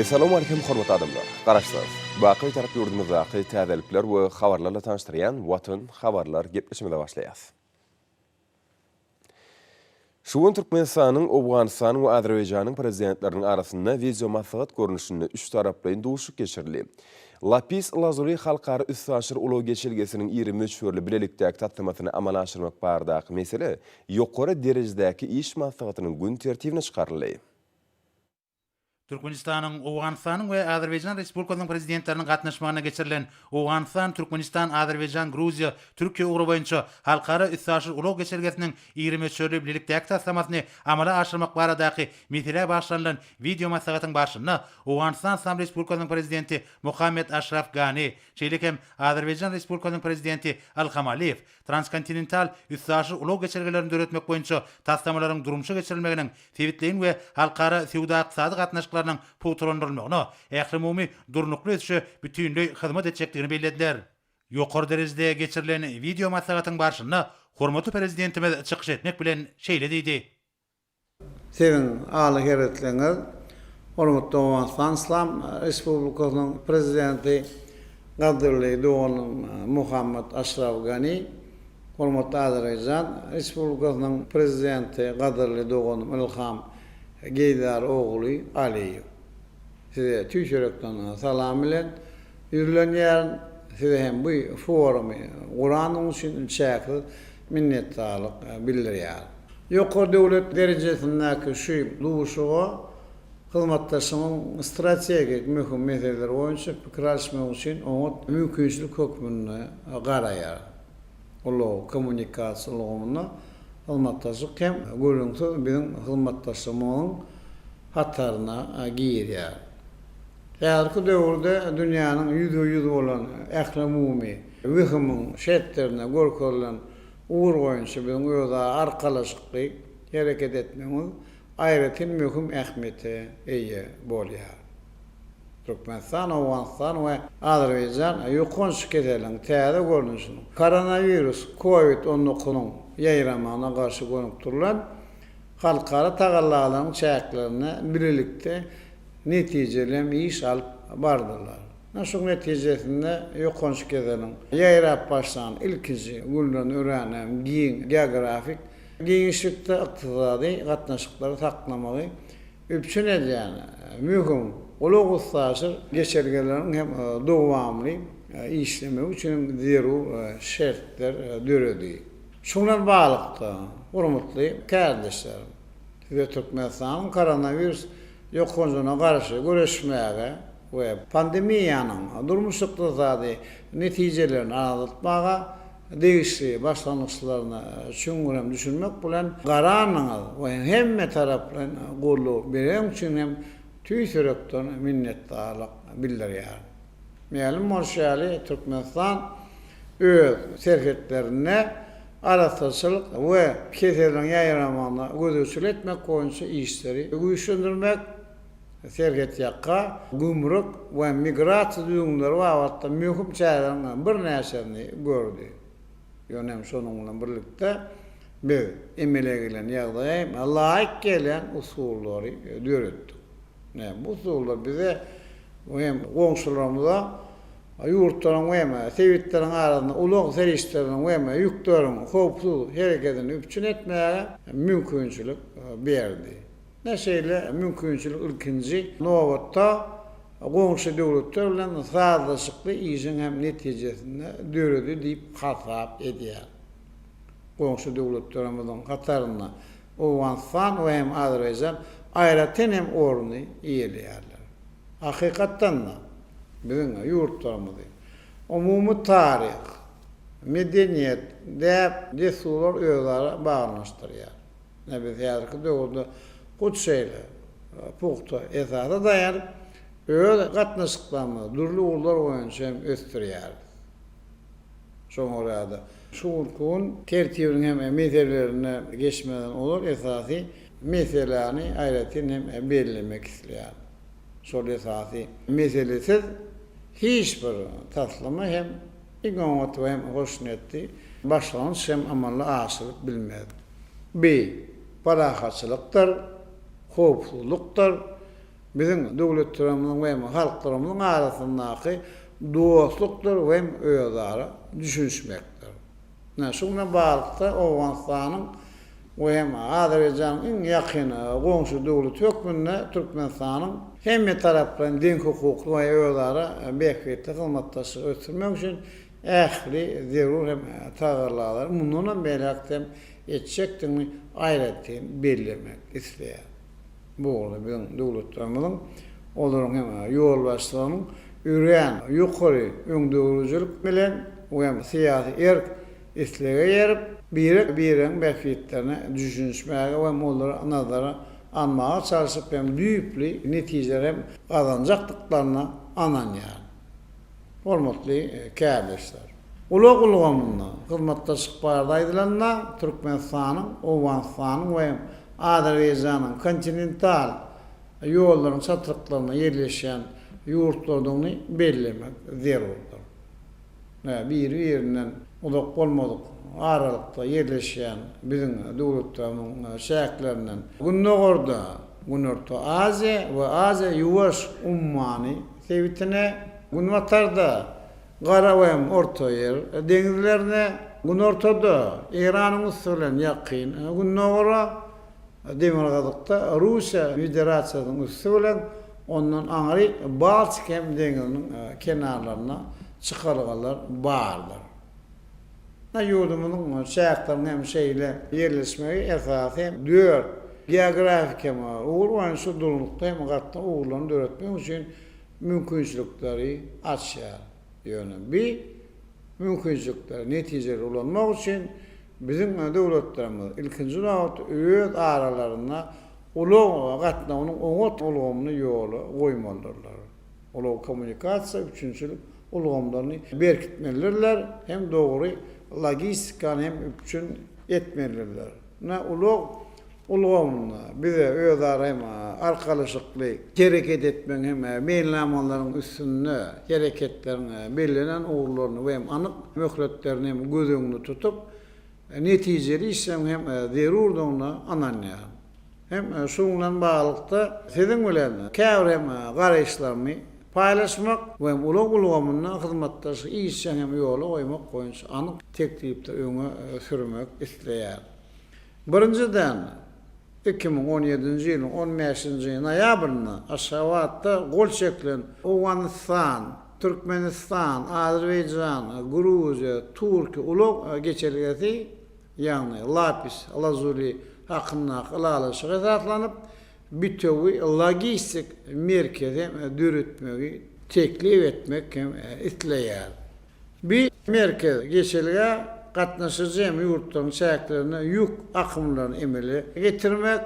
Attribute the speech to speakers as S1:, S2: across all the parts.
S1: Essalamu Aleýkum hormatly adamlar! Garaşsyz, baky Bitarap ýurdumyzdaky täzelikler we habarlarla tanyşdyrýan Watan habarlar gepleşigimize başlaýarys. Şu gün Türkmenistanyň, Owganystanyň we Azerbaýjanyň Prezidentleriniň arasynda wideomaslahat görnüşinde üçtaraplaýyn duşuşyk geçirildi. Lapis Lazuli halkara üstaşyr ulag geçelgesiniň iri möçberli bilelikdäki taslamasyny amala aşyrmak baradaky mesele ýokary derejedäki iş maslahatynyň gün tertibine çykaryldy. Türkmenistanyň, Owganystanyň we Azerbaýjan Respublikasynyň Prezidentleriniň gatnaşmagynda geçirilen Owganystan, Türkmenistan, Azerbaýjan, Gruziýa, Türkiýe ugry boýunça halkara üstaşyr ulag geçelgesiniň iri möçberli bilelikdäki taslamasyny amala aşyrmak baradaky meselä bagyşlanylan wideomaslahatyň barşynda Owganystan Yslam Respublikasynyň Prezidenti Mohammed Aşraf Gani, şeýle hem Azerbaýjan Respublikasynyň Prezidenti Ilham Aliýew transkontinental, üstaşyr ulag geçelgelerini döretmek boýunça taslamalaryň durmuşa geçirilmeginiň sebitleýin we halkara söwda-ykdysady gatnaşyklarynyň pugtalandyrylmagyna, ählumumy durnukly ösüşe bütinleý hyzmat etjekdigini bellediler. Ýokary derejede geçirilen wideomaslahatyň barşynda hormatly Prezidentimiz çykyş etmek bilen şeýle diýdi, Siziň aly hereketleriniz hormatly Owganystan Yslam Respublikasynyň Prezidenti, gadyrly doganym Mohammad Ashraf Gani, hormatly Azerbaýjan Respublikasynyň Prezidenti, gadyrly doganym Ilham Geýdar ogly Aliýew. Size tüýs ýürekden salam bilen ýüzlenýärin. Size hem bu forumy guranyň üçin çäksiz minnetdarlyk bildirýär. Ýokary döwlet derejesindäki şu duşuşyga hyzmatdaşlygyň strategik möhüm meseleleri boýunça pikir alyşmak üçin oňat mümkinçilik hökmünde garaýar. Ulag, kommunikasiýa ulgamynda hyzmatdaşlyk hem gürrüňsiz biziň hyzmatdaşlygymyzyň hataryna girýär. Häzirki döwürde dünýäniň ýüzbe-ýüz bolan ählumumy WHIM-iň şertlerinde görkezilen ugur boýunça biziň özara arkalaşykly hereket etmegimiz aýratyn möhüm ähmiýete eýe bolýar. Türkmenistan, Owganystan we Azerbaýjan ýokanç keseliň täze görnüşiniň, koronawirus, Covid on dokuzyň, ýaýramagyna garşy gönükdirilen halkara tagallalaryň çäklerinde bilelikde netijeli hem iş alyp bardylar. Ine şuň netijesinde ýokanç keseliň ýaýrap başlan ilkinji günlerini örän hem giň geografik giňişlikde ykdysady gatnaşyklary saklamagy üpjün edýän möhüm ulag-üstaşyr geçelgeleriň hem dowamly işlemegi üçin zerur şertler döredi. Şu bilen baglykda, hormatly kärdeşler, Size Türkmenistanyň koronawirus ýokanjyna garşy göreşmäge we pandemiýanyň durmuş-ykdysady netijelerini azaltmaga degişli başlangyçlaryna çuňňurhem düşünmek bilen, garanyňyz we hemmetaraplaýyn goldaw bereniň üçin hem tüýs ýürekden minnetdarlyk bildirýärin. Mälim bolşy ýaly, Türkmenistan öz serhetlerinde arassaçylyk we keseliň ýaýramagyna gözegçilik etmek boýunça işleri güýçlendirmek, serhetýaka, gümrük we migrasiýa düzgünleri babatda möhüm çäreleriň birnäçesini gördi. Ýöne hem şonuň bilen birlikde, biz emele gelen ýagdaýa hem laýyk gelýän usullary döretdik. Näme bu usullar bize hem goňşularymyza ýurtlaryň we sebitleriň arasynda ulag serişdelerini we ýükleriň howpsuz hereketini üpjün etmäge mümkinçilik berdi. Ine şeýle mümkinçilik ilkinji nobatda goňşy döwletler bilen sazlaşykly işiň hem netijesinde döredi diýip hasap edýär. Goňşy döwletlerimiziň hatarynda Owganystan we hem Azerbaýjan aýratyn hem orny eýeleýärler. Hakykatdan-da, biziň ýurtlarymyzy umumy taryh, medeniýet, däp-dessurlar özara baglanyşdyrýar. Ine, biz häzirki döwürde hut şeýle pugta esasa daýanyp, öz gatnaşyklarymyzy dürli ugurlar boýunça hem ösdürýäris. Şoňa görä-de, şu günki gün tertibiniň hem meselelerine geçmeden ozal esasy Meseläni aýratyn hem bellemek isleýärin. Şol esasy meselesiz hiç bir taslama hem iň oňat we hem hoşniýetli başlangyç hem amala aşyrylyp bilmez. Bi, parahatçylykdyr, howpsuzlykdyr, biziň döwletlerimiziň we hem halklarymyzyň arasyndaky dostlukdyr we hem özara düşünişmekdir. Ine, şu güne baglylykda Owganystanyň we hem Azerbaýjanyň iň ýakyn goňşy döwleti hökmünde Türkmenistanyň hemmetaraplaýyn deňhukukly we özara bähbitli hyzmatdaşlygy ösdürmek üçin ähli zerur hem tagallalary mundanam beýläk-de hem etjekdigini aýratyn bellemek isleýär. Bu bolsa biziň döwletlerimiziň, olaryň hem ýolbaşçylarynyň örän ýokary öňdegrujilik bilen we syýasy erk, islege erip, birek-biregiň bähbitlerine düşünişmäge we olary nazara almaga çalşyp hem düýpli netijeler hem gazanjakdyklaryna ynanýaryn. Hormatly kärdeşler! Ulag ulgamynda hyzmatdaşlyk barada aýdylanda, Türkmenistanyň, Owganystanyň we Azerbaýjanyň kontinental ýollaryň çatryklarynda ýerleşýän ýurtlardygyny bellemek zerurdyr. Biri-birinden uzak bolmadyk aralykda ýerleşýän biziň döwletlerimiň çäklerinden gündogarda Günorta Aziýa we Aziýa-Ýuwaş ummany, sebitine, günbatarda Gara we Ortaýer deňizlerine, günortada Eýranyň üsti bilen Ýakyn Gündogara, demirgazykda Russiýa Federasiýasynyň üsti bilen, ondan aňry Baltik hem deňziniň kenarlaryna çykalgalar bardyr. Ynha, ýurdumyzyň çäkleriniň hem şeýle ýerleşmegi esasy hem dört geografik hem ugur boýunça durnukly hem gatnaw ugurlaryny döretmek üçin mümkinçilikleri açýar. Ýöne bi mümkinçilikleri netijeli ulanmak üçin biziň döwletlerimiz, ilkinji nobatda, öz aralarynda ulag gatnawynyň oňat ulgamyny ýola goýmalydyrlar. ulag-kommunikasiýa, üpjünçilik ulgamlaryny berkitmelidirler hem dogry logistikany hem üpjün etmelidirler. Ine, ulag ulgamynda bize özara hem arkalaşykly hereket etmegiň hem meýilnamalaryň üstünde hereketleriň bellenen ugurlaryny we hem anyk möhletlerini hem göz öňünde tutup, netijeli işlemegiň hem zerurdygyna ynanýaryn. Hem şunuň bilen baglylykda, siziň bilen käbir hem garaýyşlarymy paýlaşmak we hem ulag ulgamynda hyzmatdaşlygy işjeň hem ýola goýmak boýunça anyk teklipleri öňe sürmek isleýärin. Birinjiden, iki müň on ýedinji ýylyň on bäşinji noýabrynda Aşgabatda gol çekilen Owganystan, Türkmenistan, Azerbaýjan, Gruziýa, Türkiýe ulag geçelgesi ýagny Lapis Lazuli hakyndaky ylalaşyga esaslanyp, bitewi logistik merkezi döretmegi teklip etmek hem isleýär. Bu merkez geçelgä gatnaşyjy hem ýurtlaryň çäklerinde ýük akymlaryny emele getirmek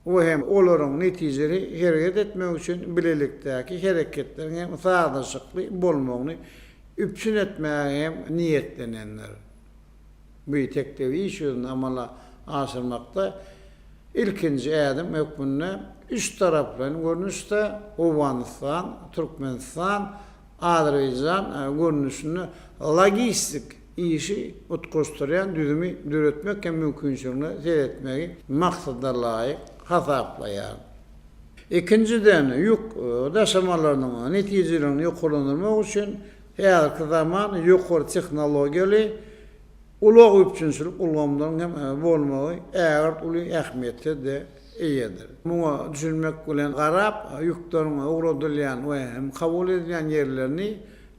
S1: we hem olaryň netijeli hereket etmegi üçin bilelikdäki hereketleriň hem sazlaşykly bolmagyny üpjün etmäge hem niýetlenendir. Biteklilik iş ýüzünde amala aşyrmakda ilkinji ädim hökmünde üç taraplaýyn görnüşde Owganystan, Türkmenistan, Azerbaýjan görnüşinde logistik işi utgaşdyrýan düzümi döretmek hem mümkinçiligine seretmegi maksadalaýyk hasaplaýar. Ikinjiden, ýük daşamalarynyň netijeligini ýokarlandyrmak üçin Häzirki zaman ýokary tehnologiýaly ulag üpjünçilik ulgamlaryň hem bolmagy ägirt uly ähmiýete-de eýedir. Muňa düşünmek bilen garap, ýükleriň ugradylýan we hem kabul edilýän ýerlerini,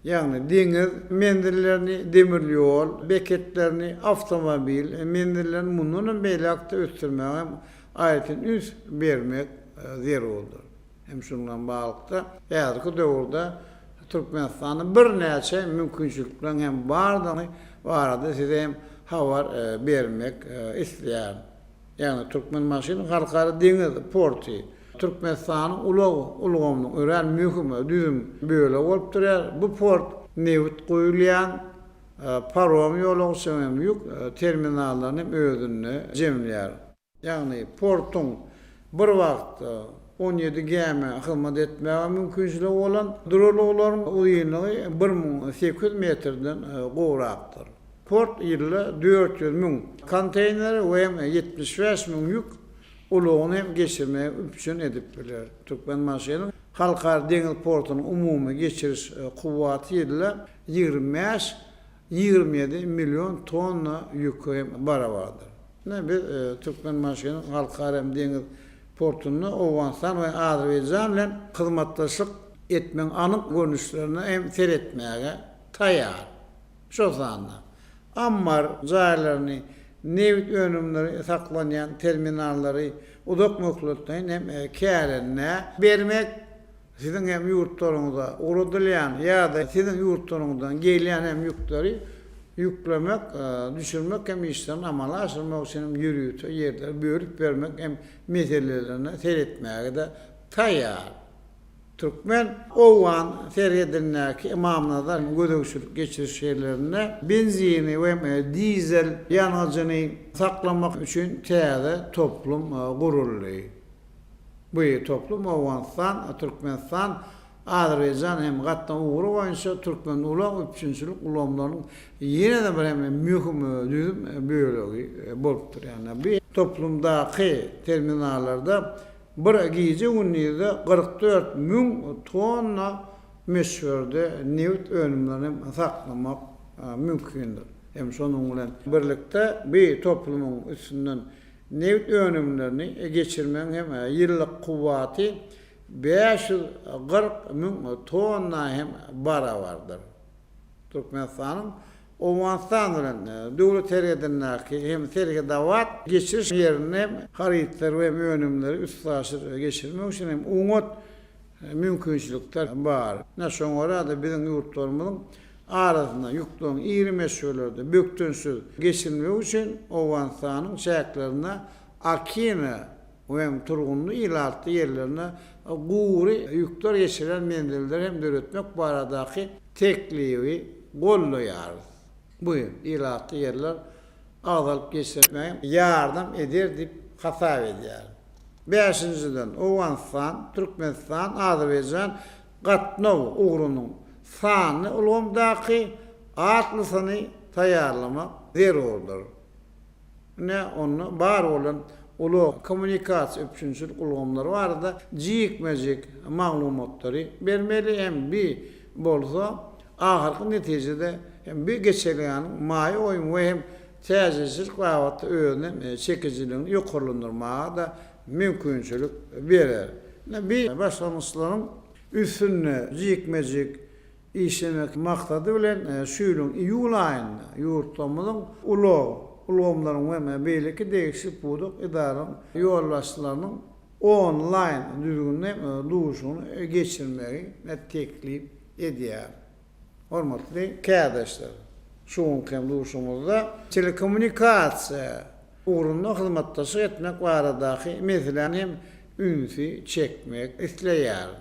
S1: ýagny deňiz menzillerini, demir ýol beketlerini, awtomobil menzillerini mundan hem beýläk-de ösdürmäge hem aýratyn üns bermek zerurdyr. Hem şunuň bilen baglylykda, häzirki döwürde Türkmenistanda birnäçe mümkinçilikleriň hem bardygy barada size hem habar bermek isleýärin. Ýagny Türkmenbaşynyň Halkara deňiz porty Türkmenistanyň ulag ulgamynyň örän möhüm düzüm bölegi bolup durýar. Bu port nebit guýulýan, parom ýolagçy hem ýük terminallaryny hem özünde jemleýär. ýagny portuň bir wagtda on ýedi gämä hyzmat etmäge mümkinçiligi bolan, duralgalaryň uzynlygy bir müň sekiz ýüz metrden gowrakdyr. Port ýylda dört ýüz müň konteýneri we ýetmiş bäş müň ýük ulagyny hem geçirmegi üpjün edip biler. Türkmenbaşynyň Halkara deňiz portunyň umumy geçiriş kuwwaty ýylda ýigrimi bäş ýigrimi ýedi million tonna ýüke hem barabardyr. Ine, biz Türkmenbaşynyň Halkara hem deňiz portunda Owganystan we Azerbaýjan bilen hyzmatdaşlyk etmegiň anyk görnüşlerine hem seretmäge taýýar. Şol sanda ammar jaýlaryny, nebit önümleri saklanýan terminallary uzak möhletleýin hem kärendä bermek Siziň hem ýurtlaryňyza ugradylýan ýa-da siziň ýurtlaryňyzdan gelýän hem ýükleri ýüklemek, düşürmek hem işlerini amala aşyrmak üçin hem ýörite ýerleri bölüp bermek hem meselelerine seretmäge-de taýýar. Türkmen. Owgan serhedindäki Ymamnazar hem gözegçilik geçiriş ýerlerinde benzini we dizel ýangyjyny saklamak üçin täze toplum guruldy. Bu toplum Owganystan, Türkmenistan, Azerbaýjan hem gatnaw ugry boýunça türkmen ulag üpjünçilik ulgamlarynyň ýene-de bir hem möhüm düzüm bölegi bolupdyr. Ýagny bu toplumdaky terminallarda bir gije-gündizde kyrk dört müň tonna möçberde nebit önümlerini hem saklamak mümkindir. Hem şonuň bilen birlikde bu toplumyň üstünden Nebit önümlerini geçirmegiň hem ýyllyk kuwwaty bäş ýüz kyrk müň tonna hem barabardyr. Türkmenistanyň Owganystan bilen döwlet serhedindäki hem Serhedabat geçiriş ýerinde hem harytlary we önümleri üstaşyr geçirmek üçin hem oňat mümkinçilikler bar. Ine, şoňa görä-de, biziň ýurtlarymyzyň arasynda ýükleriň iri meşgelerde bökdençsiz geçirilmegi üçin Owganystanyň çäklerinde Akina we hem turgunly ilatly ýerlerinde gury ýükler geçirýän menzilleri hem döretmek baradaky teklibi goldaýarys. Bu ilatly ýerler agzalyp geçirmäge ýardam eder diýip hasap edýär. Bäşinjiden, Owganystan, Türkmenistan, Azerbaýjan gatnaw ugrunyň sanly ulgamdaky atlysyny taýýarlamak zerurdyr. Ine, onda bar bolan ulag, kommunikasiýa, üpjünçilik ulgamlary barada jikme-jik maglumatlary bermeli hem bi bolsa ahyrky netijede hem bi geçelgäniň maýa goýum we hem täjirçilik babatda özüniň çekijiligini ýokarlandyrmaga-da mümkinçilik berer. Ine, bi başlangyçlaryň üstünde jikme-jik işlemek maksady bilen, şu ýylyň iýul aýynda ýurtlarymyzyň ulag ulgamlarynyň we beýleki degişli pudak edaralaryň ýolbaşçylarynyň onlaýn düzgünde duşuşygyny geçirmegi teklip edýär. Hormatly kärdeşler! Şu günki hem duşuşygymyzda telekommunikasiýa ugrunda hyzmatdaşlyk etmek baradaky meseläni hem ünsi çekmek isleýärin.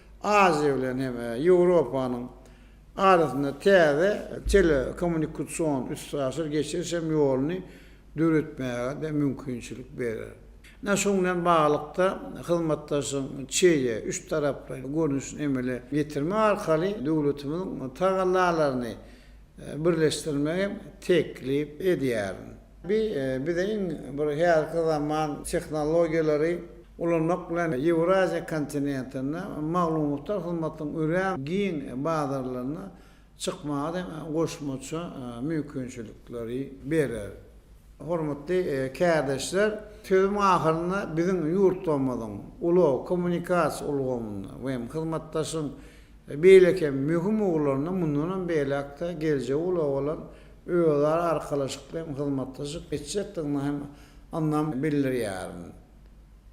S1: Aziýa bilen hem Ýewropanyň arasynda täze telekommunikasion üstaşyr geçiriş hem ýoluny döretmäge-de mümkinçilik berer. Ine, şunuň bilen baglylykda, hyzmatdaşlygyň çeýe, üç taraplaýyn görnüşini emele getirmek arkaly döwletimiziň tagallalaryny birleşdirmegi teklip edýärin. Bu bize iň bir häzirki zaman tehnologiýalary ulanmak bilen Ýewraziýa kontinentinde maglumatlar hyzmatynyň örän giň bazarlaryna çykmaga hem goşmaça mümkinçilikleri berer. Hormatly kärdeşler, sözüm ahyrynda biziň ýurtlarymyzyň ulag, kommunikasiýa ulgamynda we hem hyzmatdaşlygyň beýleki möhüm ugurlarynda mundanam beýläk-de geljegi ulabalan özara arkalaşykly hem hyzmatlaşyp geçjekdigini hem ynam bildirýärin.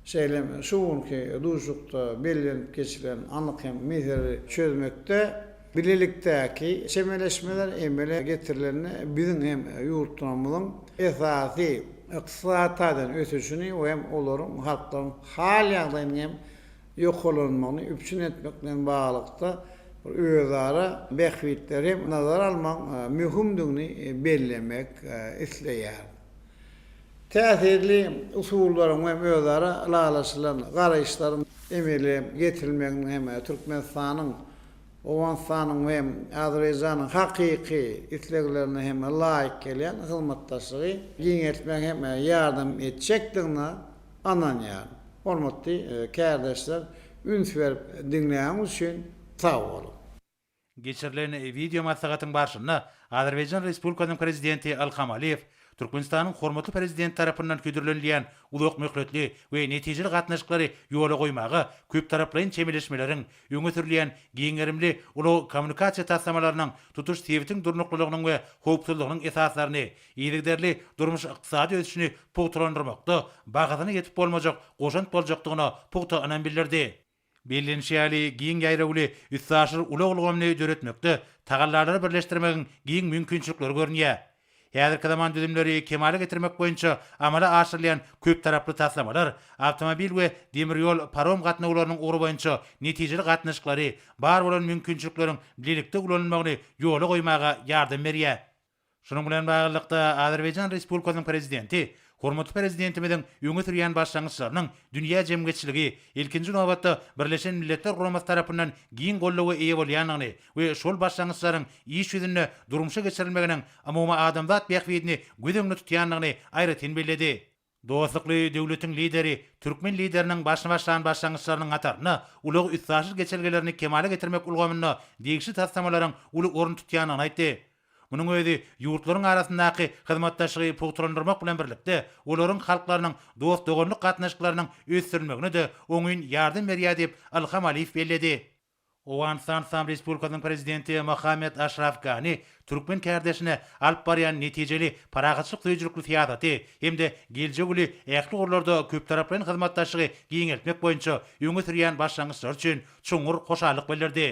S1: Şeýle hem şu günki duşuşykda bellenip geçilen anyk hem meseleleri çözmekde bilelikdäki çemeleşmeler emele getirilende biziň hem ýurtlarymyzyň esasy ykdysady taýdan ösüşini we hem olaryň halklaryň hal-ýagdaýynyň hem ýokarlanmagyny üpjün etmek bilen baglylykda, özara bähbitleri hem nazara almagyň möhümdigini bellemek isleýär. Täsirli usullaryň we özara ylalaşylan garaýyşlaryň emele getirilmeginiň hem Türkmenistanyň, Owganystanyň we Azerbaýjanyň hakyky isleglerine hem laýyk gelýän hyzmatdaşlygy giňeltmäge hem ýardam etjekdigine ynanýaryn. Hormatly kärdeşler üns berip diňläniňiz üçin sag boluň. Geçirilen wideo maslahatyň barşynda Azerbaýjan Respublikasynyň Prezidenti Ilham Aliýew Türkmenistanyň hormatly Prezidenti tarapyndan hödürlenilýän uzakmöhletli we netijeli gatnaşyklary ýola goýmaga köptaraplaýyn çemeleşmeleriň, öňe sürülýän giň gerimli ulag-kommunikasiýa taslamalarynyň tutuş sebitiň durnuklylygynyň we howpsuzlygynyň esaslaryny yzygiderli durmuş-ykdysady ösüşini pugtalandyrmakda bahasyna ýetip bolmajak goşant boljakdygyna pugta ynam bildirdi. Bellenişi ýaly, giň ýaýrawly üstaşyr ulag ulgamyny döretmekde tagallalary birleşdirmegiň giň mümkinçilikleri görünýär. Häzirki zaman düzümleri kemala getirmek boýunça amala aşyrylýan köptaraply taslamalar awtomobil we demir ýol parom gatnawlarynyň ugry boýunça netijeli gatnaşyklary, bar bolan mümkinçilikleriň bilelikde ulanylmagyny ýola goýmaga ýardam berýär. Şunuň bilen baglylykda, Azerbaýjan Respublikasynyň Prezidenti hormatly Prezidentimiziň öňe sürýän başlangyçlarynyň dünýä jemgyýetçiligi, ilkinji nobatda, Birleşen Milletler Guramasy tarapyndan giň goldawa eýe bolýandygyny we şol başlangyçlaryň iş ýüzünde durmuşa geçirilmeginiň umumadamzat bähbidini göz öňünde tutýandygyny aýratyn belledi. Dostlukly döwletiň Lideri türkmen Lideriniň başyny başlan başlangyçlarynyň hatarynda ulag-üstaşyr geçelgelerini kemala getirmek ulgamynda degişli taslamalaryň uly orun tutýandygyny aýtdy. Munuň özi ýurtlaryň arasyndaky hyzmatdaşlygy pugtalandyrmak bilen birlikde, olaryň halklarynyň dost-doganlyk gatnaşyklarynyň ösdürilmegine-de oňyn ýardam berýär diýip, Ilham Aliýew belledi. Owganystan Yslam Respublikasynyň Prezidenti Mohamed Aşraf Gani türkmen kärdeşine alyp barýan netijeli parahatçylyk söýüjilikli syýasaty hem-de geljek uly ähli ugurlarda köptaraplaýyn hyzmatdaşlygy giňeltmek boýunça öňe sürýän başlangyçlary üçin çuňňur hoşallyk bildirdi.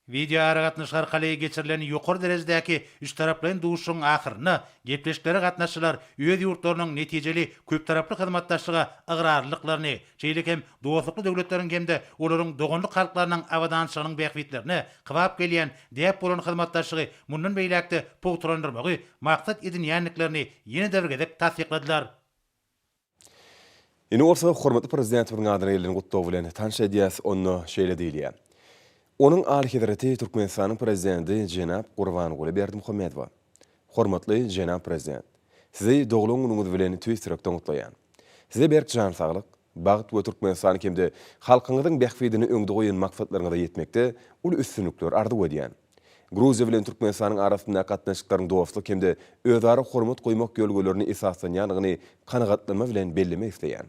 S1: Wideoaragatnaşyk arkaly geçirilen ýokary derejedäki üçtaraplaýyn duşuşygyň ahyrynda gepleşiklere gatnaşyjylar öz ýurtlarynyň netijeli köptaraply hyzmatdaşlyga ygrarlydyklaryny, şeýle hem dostlukly döwletleriň hem-de olaryň doganlyk halklarynyň abadançylygynyň bähbitlerine kybap gelýän däp bolan hyzmatdaşlygy mundan beýläk-de pugtalandyrmagy maksat edinýändiklerini ýene-de bir gezek tassykladylar. Indi bolsa hormatly Prezidentimiziň adyna gelen gutlag bilen tanyş edýäris, onda şeýle diýilýär, Onuň Alyhezreti Türkmenistanyň Prezidenti jenap Gurbanguly Berdimuhamedowa, Hormatly jenap Prezident! Sizi doglan günüňiz bilen tüýs ýürekden gutlaýan. Size berk jan saglyk, bagt we Türkmenistany hem-de halkyňyzyň bähbidini öňde goýan maksatlaryňyza ýetmekde uly üstünlikler arzuw edýän. Gruziýa bilen Türkmenistanyň arasyndaky gatnaşyklaryň dostluk hem-de özara hormat goýmak ýörelgelerine esaslanýandygyny kanagatlanma bilen bellemek isleýän.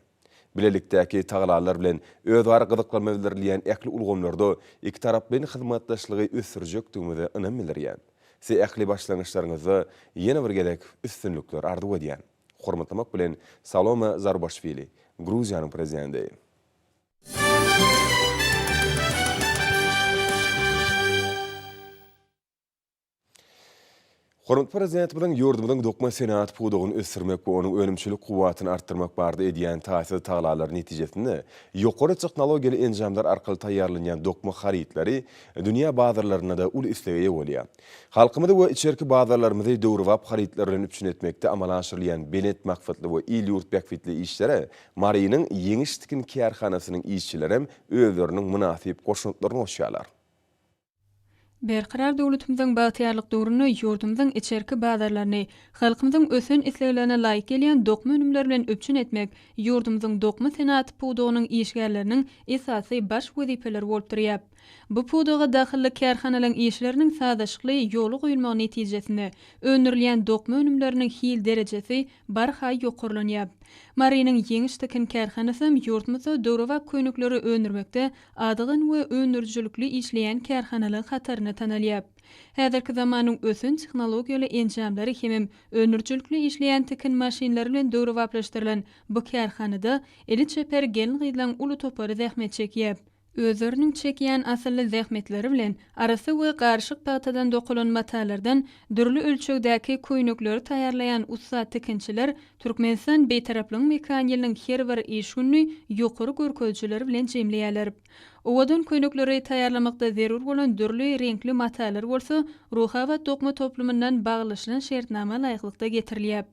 S1: Bilelikdäki tagallalar bilen özara gyzyklanma bildirilýän ähli ulgamlarda ikitaraplaýyn hyzmatdaşlygy ösdürjekdigimize ynam bildirýän. Size ähli başlangyçlaryňyzda ýene bir gezek üstünlikler arzuw edýän. Hormatlamak bilen, Salome Zurbaşwili, Gruziýanyň Prezidenti. Hormatly Prezidentimiziň ýurdumyzyň dokma senagat pudagyny ösdürmek we onuň önümçilik kuwwatyny artdyrmak barada edýän taýsyz tagalary netijesinde, ýokary tehnologiýaly enjamlar arkaly taýýarlanýan dokma harytlary dünýä bazarlarynda-da uly islege eýe bolýar. Halkymyzy we içerki bazarlarymyzy döwrebap harytlar bilen üpjün etmekde amala aşyrylýan belent maksatly we il-ýurt bähbitli işlere Marynyň Ýeňiş tikin kärhanasynyň işçilerem özleriniň mynasyp goşantlaryny goşýarlar. Berkarar döwletimiziň bagtyýarlyk döwründe ýurdumyzyň içerki bazarlaryny halkymyzyň ösen isleglerine laýyk gelýän dokma önümler bilen üpjün etmek ýurdumyzyň dokma senagat pudagynyň işgärleriniň esasy baş wezipeleri bolup durýar. Bu pudaga dahylly kärhanalaryň işleriniň sazlaşykly ýola goýulmagy netijesinde öndürilýän dokma önümleriniň hil derejesi barha ýokarlanýar. Marynyň Ýeňiş tikin kärhanasy hem ýurdumyzda döwrebap köýnekleri öndürmekde adygan we öndürijilikli işleýän kärhanalar hatarynda tanalýar. Häzirki zamanyň ösen tehnologiýaly enjamlary hemem öndürijilikli işleýän tikin maşynlary bilen döwrebaplaşdyrylan bu kärhanada eli çeper gelin-gyzlaryň uly topary zähmet çekýär. Özleriniň çekýän asylly zähmetleri bilen arassa we garyşyk pagtadan dokalan matalardan dürli ölçegdäki köýnekleri taýýarlaýan ussat tikinçiler Türkmenistan Bitaraplygyň mekan ýylynyň her bir iş gününi ýokary görkezijiler bilen jemleýärler. Owadan köýnekleri taýýarlamakda zerur bolan dürli reňkli matalar bolsa Ruhabat dokma toplumyndan baglaşylan şertnama laýyklykda getirilýäp.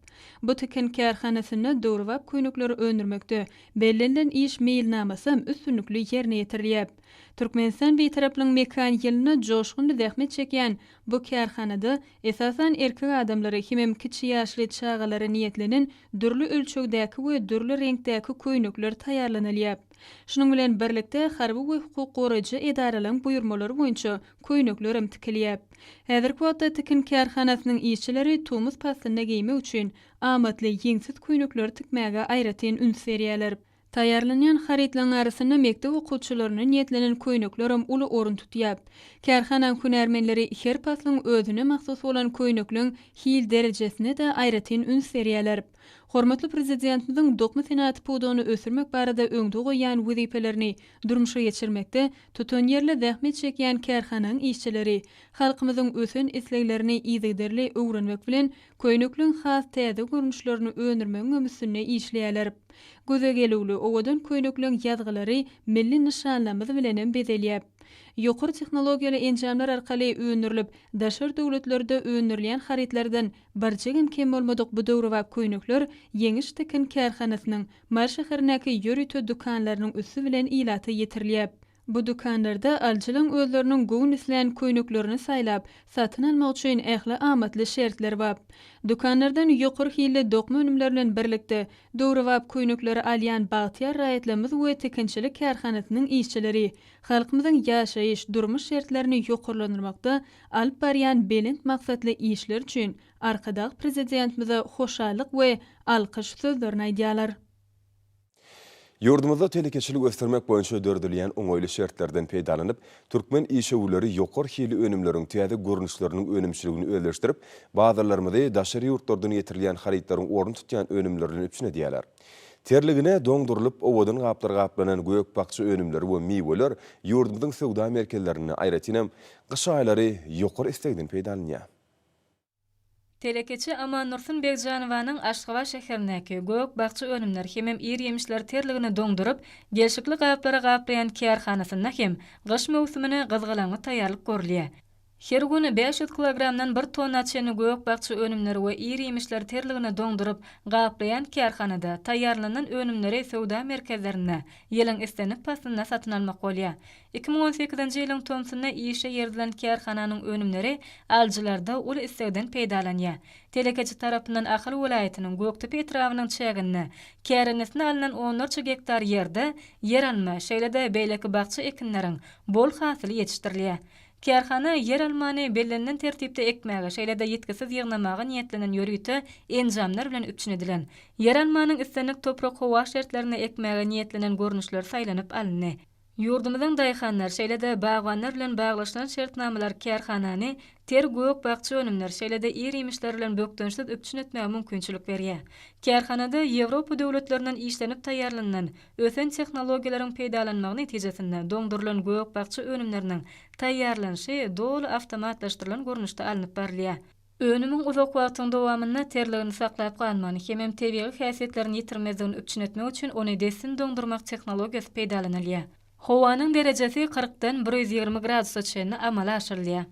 S1: Bu tikin kärhanasynda döwrebap köýnekleri öndürmekde bellenilen iş meýilnamasam üstünlikli ýerine ýetirilýäp. Türkmenistan Bitaraplygyň mekan ýylynda joşgunly zähmet çekýän bu kärhanada esasan, erkek adamlara hemem kiçi ýaşly çagalara niýetlenen dürli ölçegdäki we dürli reňkdäki köýnekler taýýarlanylýar. Şunuň bilen birlikde, harby we hukuk goraýjy edaralaryň buýurmalary boýunça köýneklerem tikilýär. Häzirki wagtda tikin kärhanasynyň işçileri tomus paslynda geýmek üçin amatly ýeňsiz köýnekleri tikmäge aýratyn üns berýärler. Taýýarlanýan harytlaryň arasynda mekdep okuwçylaryna niýetlenen köýnekler hem uly orun tutýar. Kärhanaň hünärmenleri her paslyň özüne mahsus bolan köýnekleň hil derejesine-de aýratyn üns berýärler. Hormatly Prezidentimiziň dokma senagaty pudagyny ösdürmek barada öňde goýýan wezipelerini durmuşa geçirmekde tutanýerli zähmet çekýän kärhanaň işçileri halkymyzyň ösen isleglerini yzygiderli öwrenmek bilen, Köýnekleň has täze görnüşlerini öndürmegiňem üstünde işleýärler. Göze gelüwli, owadan köýnekleň ýazgylary milli nyşanlamyz bilenem bezelýär. Ýokary tehnologiýaly enjamlar arkaly öndürilip, daşary döwletlerde öndürilýän harytlardan birjigem kem bolmadyk bu döwrebap köýnekler Ýeňiş tikin kärhanasynyň Mary şäherindäki ýörite dükanlarynyň üsti bilen ilata ýetirilýär. Bu dükanlarda alyjylaň özleriniň göwün islän köýneklerini saýlap, satyn almak üçin ähli amatly şertler bap. Dükanlardan ýokary hilli dokma önümleri bilen birlikde, döwrebap köýnekleri alýan bagtyýar raýatlarymyz we tikinçilik kärhanasynyň işçileri halkymyzyň ýaşaýyş, durmuş şertlerini ýokarlandyrmakda alyp barýan belent maksatly işleri üçin Arkadag Prezidentimize hoşallyk we alkyş sözlerini aýdýarlar. Ýurdumyzda telekeçiligi ösdürmek boýunça döredilýän oňaýly şertlerden peýdalanyp, türkmen işewürleri ýokary hilli önümleriň täze görnüşleriniň önümçiligini özleşdirip, bazarlarymyzy daşary ýurtlardan getirilýän harytlaryň ornuny tutýan önümler bilen üpjün edýärler. Terligine doňdurylyp, owadan gaplar gaplanan gök-bakja önümleri we miweler ýurdumyzyň söwda merkezlerinde, aýratynam, gyş aýlary ýokary islegden peýdalanýar. Telekeçi Amandursun Begjanowanyň Aşgabat şäherindäki Gök-bakja önümler hemem ir-ýemişler terligini doňduryp, gelşikli gaplara gaplaýan kärhanasynda hem gyş möwsümine gyzgalaňly taýýarlyk görülýär. Her gün bäş ýüz kilogramdan bir tonna çenli gök-bakja önümleri we ir-ýemişler terligini doňduryp, gaplaýan kärhanada taýýarlanylan önümleri söwda merkezlerinde ýylyň islendik paslynda satyn almak bolýar. Iki müň on sekizinji ýylyň tomsunda işe ýerililen kärhananyň önümleri alyjylarda uly islegden peýdalanýar. Telekeçi tarapyndan Ahal welaýatynyň Gökdepe etrabynyň çäginde kärendesinä alnan onlarça gektar ýerde ýeralma, şeýle-de beýleki bakja ekinleriň bol hasyly ýetişdirilýär. Kärhana ýeralmany bellenilen tertipde ekmäge, şeýle-de ýitgisiz ýygnamaga niýetlenen ýörite enjamlar bilen üpjün edilen. Ýeralmanyň islendik toprak-howa şertlerinde ekmäge niýetlenen görnüşleri saýlanyp alyndy. Ýurdumyzyň daýhanlar, şeýle-de bagbanlar bilen baglaşylan şertnamalar kärhanany ter gök-bakja önümleri, şeýle-de ir-iýmişler bilen bökdençsiz üpjün etmäge mümkinçilik berýär. Kärhanada Ýewropa döwletlerinden işlenip taýýarlanylan ösen tehnologiýalaryň peýdalanmagy netijesinde doňdurylan gök-bakja önümleriniň taýýarlanyşy doly awtomatlaşdyrylan görnüşde alnyp barylýar. Önümiň uzak wagtyň dowamynda terligini saklap galmagyny hemem tebigy häsiýetlerini ýitirmezligini üpjün etmek üçin ony dessin doňdurmak tehnologiýasy peýdalanylýar. Howanyň derejesi kyrkdan bir ýüz ýigrimi gradusa çenli amala aşyrylýar.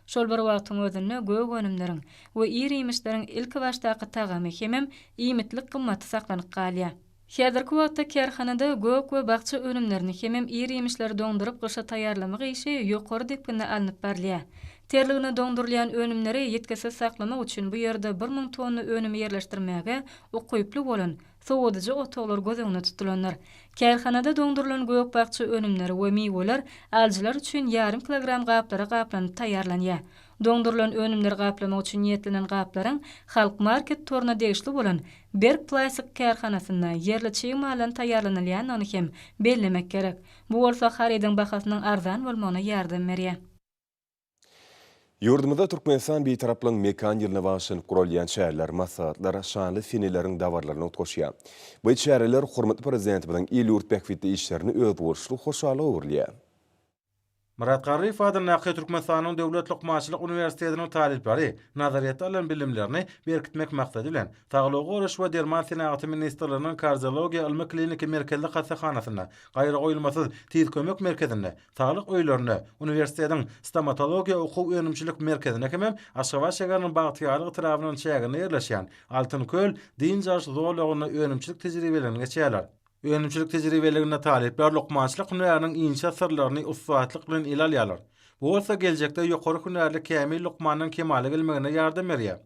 S1: Şol bir wagtyň özünde gök önümleriň we ir-iýmişleriň ilkibaşdaky tagamy hemem iýmitlik gymmaty saklanyp galýar. Häzirki wagtda kärhanada gök we bakja önümlerini hemem ir-iýmişleri doňduryp gyşa taýýarlamak işi ýokary depginde alnyp barylýar. Terligine doňdurylýan önümleri ýitgisiz saklamak üçin bu ýerde bir müň tonna önümi ýerleşdirmäge ukyply bolan sowadyjy otaglar göz öňünde tutulandyr. Kärhanada doňdurylan gök-bakja önümleri we miweler alyjylar üçin ýarym kilogram gaplara gaplanyp taýýarlanýar. Doňdurylan önümleri gaplamak üçin niýetlenen gaplaryň Halkmarket toruna degişli bolan Berk plastik kärhanasynda ýerli çig maldan taýýarlanylýandygyny hem bellemek gerek. Bu bolsa harydyň bahasynyň arzan bolmagyna ýardam berýär. Ýurdumyzda Türkmenistan Bitaraplygyň Mekan ýylyna bagyşlanyp guralýan çäreler, maslahatlar şanly seneleriň dabarlaryna utgaşýar. Bu çäreler hormatly Prezidentimiziň il-ýurt bähbitli işlerini özboluşly hoşallyga öwürýär. Myrat Garryýew adyndaky Türkmenistanyň Döwlet lukmançylyk uniwersitetiniň talyplary nazaryýetde alan bilimlerini berkitmek maksady bilen, Saglygy goraýyş we derman senagaty ministrliginiň Kardiologiýa ylmy-kliniki merkezli hassahanasynda, Gaýragoýulmasyz tiz kömek merkezinde, Saglyk öýlerinde, uniwersitetiň Stomatologiýa okuw-önümçilik merkezinde hemem Aşgabat şäheriniň Bagtyýarlyk etrabynyň çäginde ýerleşýän Altyn köl dynç alyş zolagynda önümçilik tejribelerini geçýärler. Önümçilik tejribeliginde talyplar lukmançylyk hünäriniň inçe syrlaryny ussatlyk bilen ele alýarlar. Bu bolsa geljekde ýokary hünärli kämil lukmanyň kemala gelmegine ýardam berýär.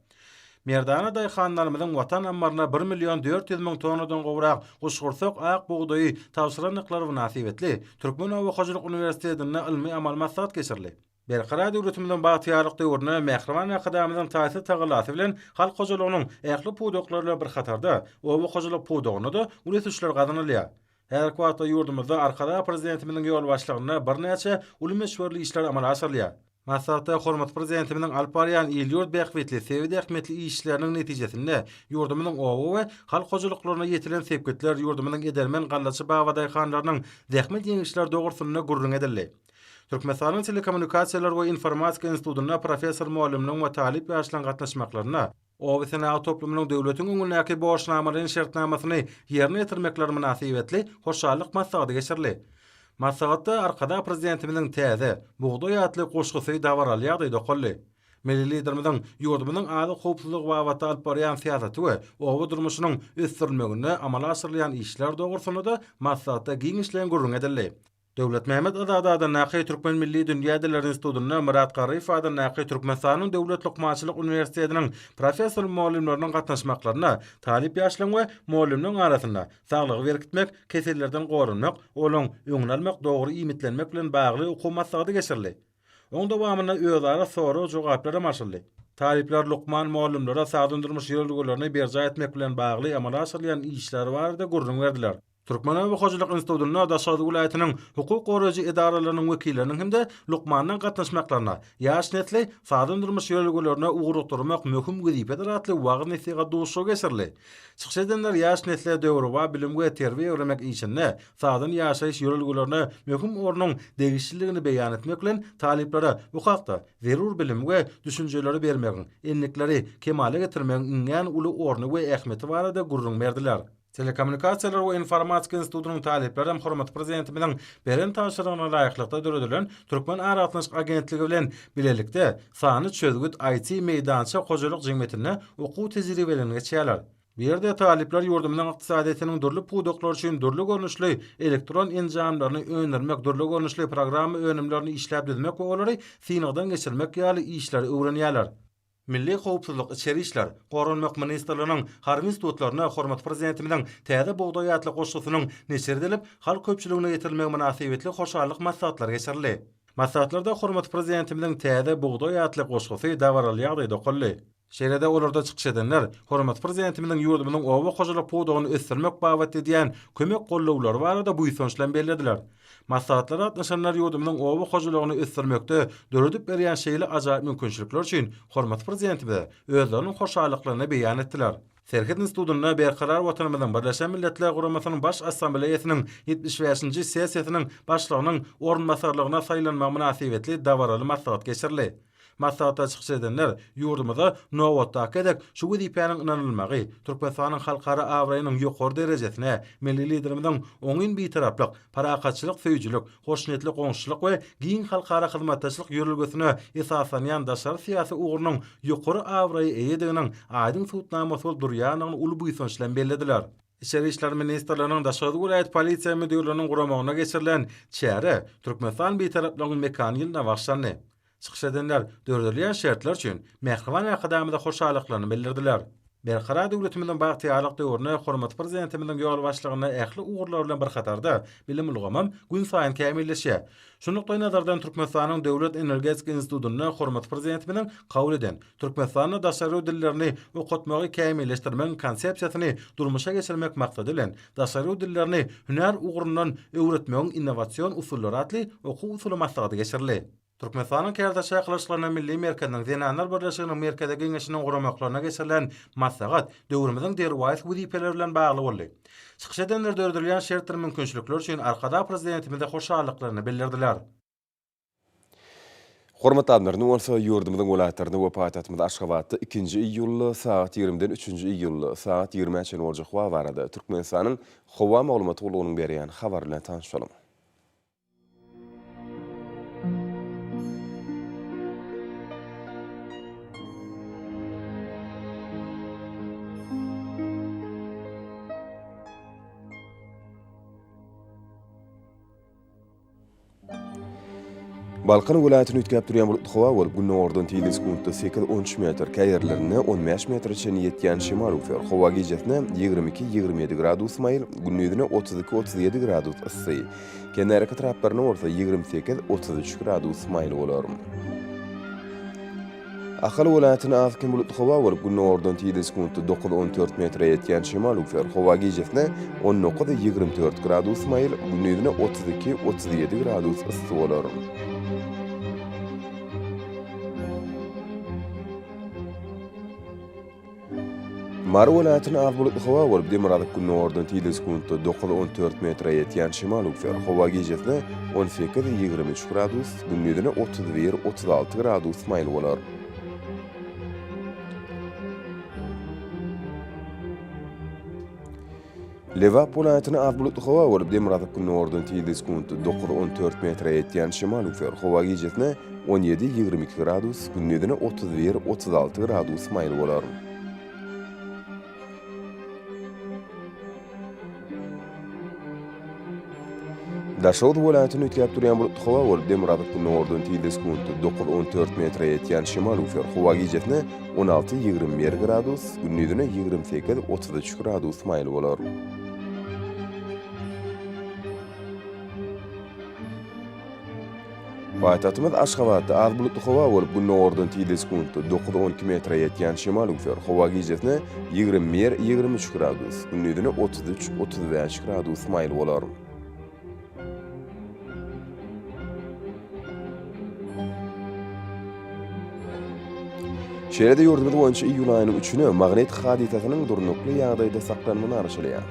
S1: Merdana daýhanlarymyzyň watan ammaryna bir million dört ýüz müň tonnadan gowrak guşgursak ak bugdaýy tabşyrandyklary mynasybetli Türkmen oba hojalyk uniwersitetinde ylmy-amal maslahat geçirildi. Berkarar döwletimiziň bagtyýarlyk döwründe Mähriban Arkadagymyzyň taýsyz tagallasy bilen halk hojalygynyň ähli pudaklary bilen bir hatarda, oba hojalyk pudagynda-da uly ösüşler gazanylýar. Häzirki wagtda ýurdumyzda Arkadag Prezidentimiziň ýolbaşçylygynda birnäçe uly möçberli işler amala aşyrylýar. Maslahatda hormatly Prezidentimiziň alyp barýan il-ýurt bähbitli, sebit ähmiýetli işleriniň netijesinde ýurdumyzyň oba we halk hojalyklarynda ýetilen sepgitler, ýurdumyzyň edermen gallaçy babadaýhanlarynyň zähmet ýeňişleri dogrusynda gürrüň edildi. Türkmenistanyň Telekommunikasiýalar we informatika institutynda professor-mugallymlaryň we talyp ýaşlaryň gatnaşmaklarynda Oba senagat toplumynyň döwletiň öňündäki borçnamalaýyn şertnamasyny ýerine ýetirmekleri mynasybetli hoşallyk maslahaty geçirildi. Maslahatda Arkadag Prezidentimiziň Täze bugdaý atly goşgusy dabaraly ýagdaýda okaldy. Milli Liderimiziň ýurdumyzyň azyk howpsuzlygy babatda alyp barýan syýasaty we oba durmuşynyň ösdürilmeginde amala aşyrylýan işler dogrusynda-da maslahatda giňişleýin gürrüň edildi. Döwletmämmet Azady adyndaky Türkmen milli dünýä dilleri institutynda Myrat Garryýew adyndaky Türkmenistanyň Döwlet lukmançylyk uniwersitetiniň professor-mugallymlarynyň gatnaşmaklarynda talyp ýaşlaryň we mugallymlaryň arasynda saglygy berkitmek, kesellerden goranmak, olaň öňüni almak, dogry iýmitlenmek bilen bagly okuw maslahaty geçirildi. Oň dowamynda özara sorag-jogaplar hem açyldy. Talyplar lukman mugallymlara sagdyn durmuş ýörelgelerini berjaý etmek bilen bagly amala aşyrylýan işler barada gürrüň berdiler. Türkmen oba hojalyk institutynda Daşoguz welaýatynyň hukuk goraýjy edaralarynyň wekilleriniň hem-de lukmanlaryň gatnaşmaklarynda Ýaş nesli sagdyn-durmuş ýörelgelerine ugrukdyrmak möhüm wezipedir atly wagyz-nesihat duşuşygy geçirildi. Çykyş edenler ýaş nesle döwrebap bilim we terbiýe öwrenmek işinde sagdyn ýaşaýyş ýörelgelerine möhüm ornuň degişliligini beýan etmek bilen, talyplara bu hakda zerur bilimi we düşünjeleri bermegiň, endikleri kemala getirmegiň iňňän uly orny we ähmiýeti barada gürrüň berdiler. Telekommunikasiýalar we informatika institutynyň talyplary hem hormatly Prezidentimiziň beren tabşyrygyna laýyklykda döredilen Türkmen aragatnaşyk agentligi bilen bilelikde Sanly çözgüt IT meýdança hojalyk jemgyýetinde okuw tejribelerini geçýärler. Bu ýerde talyplar ýurdumyzyň ykdysadyýetiniň dürli pudaklary üçin dürli görnüşli elektron enjamlaryny öndürmek, dürli görnüşli programma önümlerini işläp düzmek we olary synagdan geçirmek ýaly işleri öwrenýärler. Milli howpsuzlyk, içeri işler, goranmak ministrliginiň harby institutlarynda hormatly Prezidentimiziň Täze bugdaý atly goşgusynyň neşir edilip, halk köpçüligine ýetirilmegi mynasybetli hoşallyk maslahatlary geçirildi. Maslahatlarda hormatly Prezidentimiziň Täze bugdaý atly goşgusy dabaraly ýagdaýda okaldy. Şeýle-de olarda çykyş edenler hormatly Prezidentimiziň ýurdumyzyň oba hojalyk pudagyny ösdürmek babatda edýän kömek-gollawlary barada buýsanç bilen bellediler. Maslahatlara gatnaşanlar ýurdumyzyň oba hojalygyny ösdürmekde döredip berýän şeýle ajaýyp mümkinçilikler üçin hormatly Prezidentimize özleriniň hoşallyklaryny beýan etdiler. Serhet institutynda Berkarar Watanymyzyň Birleşen Milletler Guramasynyň Baş Assambleýasynyň ýetmiş bäşinji sessiýasynyň başlygynyň orunbasarlygyna saýlanmagy mynasybetli dabaraly maslahat geçirildi. Maslahata çykyş edenler ýurdumyza nobatdaky gezek şu wezipäniň ynanylmagy, Türkmenistanyň halkara abraýynyň ýokary derejesine, milli Liderimiziň oňyn bitaraplyk, parahatçylyk söýüjilik, hoşniýetli goňşuçylyk we giň halkara hyzmatdaşlyk ýörelgesine esaslanýan daşary syýasy ugrunyň ýokary abraýa eýediginiň aýdyň subutnamasy bolup durýandygyny uly buýsanç bilen bellediler. Içeri işler ministrliginiň Daşoguz welaýat Polisiýa müdirliginiň guramagynda geçirilen çärä Türkmenistan Bitaraplygyň mekany ýylyna bagyşlandy. Çykyş edenler döredilýän şertler üçin Mähriban Arkadagymyza hoşallyklaryny bildirdiler. Berkarar döwletimiziň bagtyýarlyk döwründe hormatly Prezidentimiziň ýolbaşçylygynda ähli ugurlar bilen bir hatarda bilim ulgamym günsaýyn kämilleşýär. Şu nukdaý nazardan Türkmenistanyň Döwlet energetika institutynda hormatly Prezidentimiziň kabul eden Türkmenistanda daşary dillerini okatmagy kämilleşdirmegiň konsepsiýasyny durmuşa geçirmek maksady bilen Daşary dillerini hünär ugrundan öwretmegiň innowasion usullary atly okuw-usuly maslahaty geçirildi. Türkmenistanyň Kärdeş çakylyşyklaryna milli merkeziniň Zenanlar birleşiginiň Merkezi Geňeşiniň guramaklaryna geçirilen maslahat döwrümiziň derwaýys wezipeleri bilen bagly boldy. Çykyş edenler döredilýän şert bir mümkinçilikler üçin Arkadag Prezidentimize hoşallyklaryny bildirdiler. Hormatly Adamlar, indi bolsa ýurdumyzyň welaýatlarynda we paýtagtymyz Aşgabatda ikinji iýulda sagat ýigrimiden üçünji iýulda sagat ýigrimä çenli boljak wagt barada Türkmenistanyň Howa maglumat gullugynyň berýän habary bilen tanyşalyň. Balkan welaýatyny üýtgäp durýan bulutly howa bolup, gündogardan tiz-de sekuntda sekiz-on üç metr, käýerlerinde on bäş metre çenli ýetýän şemal öwser. Howa gijesine ýigrimi iki-ýigrimi ýedi gradus maýyl, gündizineotuz iki-otuz ýedi gradus yssy. Kenarki etraplaryna bolsa ýigrimi sekiz, otuz üç gradus maýyl bolar. Ahal welaýatyna az-kem bulutly howa bolup, gündogardan tizden sekuntda dokuz, on dört metre ýetýän şemal üwser. Howa gijesine on dokuz, ýigrimi dört gradus maýyl, gündizine otuz iki, otuz ýedi gradus yssy bolar. Mary welaýatyna az bulutly howa bolup, demirgazyk gündogardan tizligi sekuntda dokuz, on dört metre ýetýän şemal öwser. Howa gijesi on sekiz, ýigrimi üç gradus, gündizine otuz bir, otuz alty gradus maýyl bolar. Lebap welaýatyna az bulutly howa bolup, demirgazyk gündogardan tizligi sekuntda dokuz, on dört metre ýetýän şemal üflär. Howa gijesine on ýedi, ýigrimi iki gradus, gündizine otuz bir, otuz alty gradus maýyl bolar. Daşoguz welaýatyny üýtgäp durýan bulutly howa bolup, demirgazyk gündogardan tizlik sekundy dokuz, on dört metre ýetýän şemal üflär. Howa gijesine on alty, ýigrimi bir gradus, gündizine ýigrimi sekiz, otuz üç gradus maýyl bolar. Paýtagtymyz Aşgabatda az bulutly howa bolup, gündogardan tizligi sekuntda dokuz, on iki metre ýetýän şemal üwser. Howa gijesine ýigrimi bir, ýigrimi üç gradus, gündizine otuz üç, otuz bäş gradus maýyl bolar. Şeýle-de ýurdumyz boýunça iýul aýynyň üçüne magnit hadysasynyň durnukly ýagdaýda saklanmagy garaşylýar.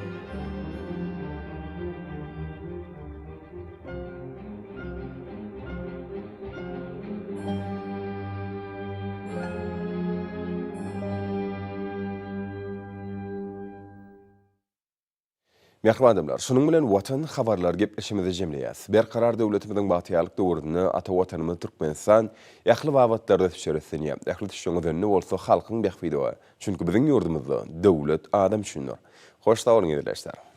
S1: Mähriban adamlar, şunuň bilen Watan habarlar gepleşigimizi jemleýäs. Berkarar döwletimiziň bagtyýarlyk döwründe ata Watanymyz Türkmenistan ähli babatlarda ösüşer islenýär. Ähli ösüşiň özeni bolsa halkyň bähbidi, çünki biziň ýurdumyzda döwlet adam üçindir. Hoş sag boluň eziz ildeşler.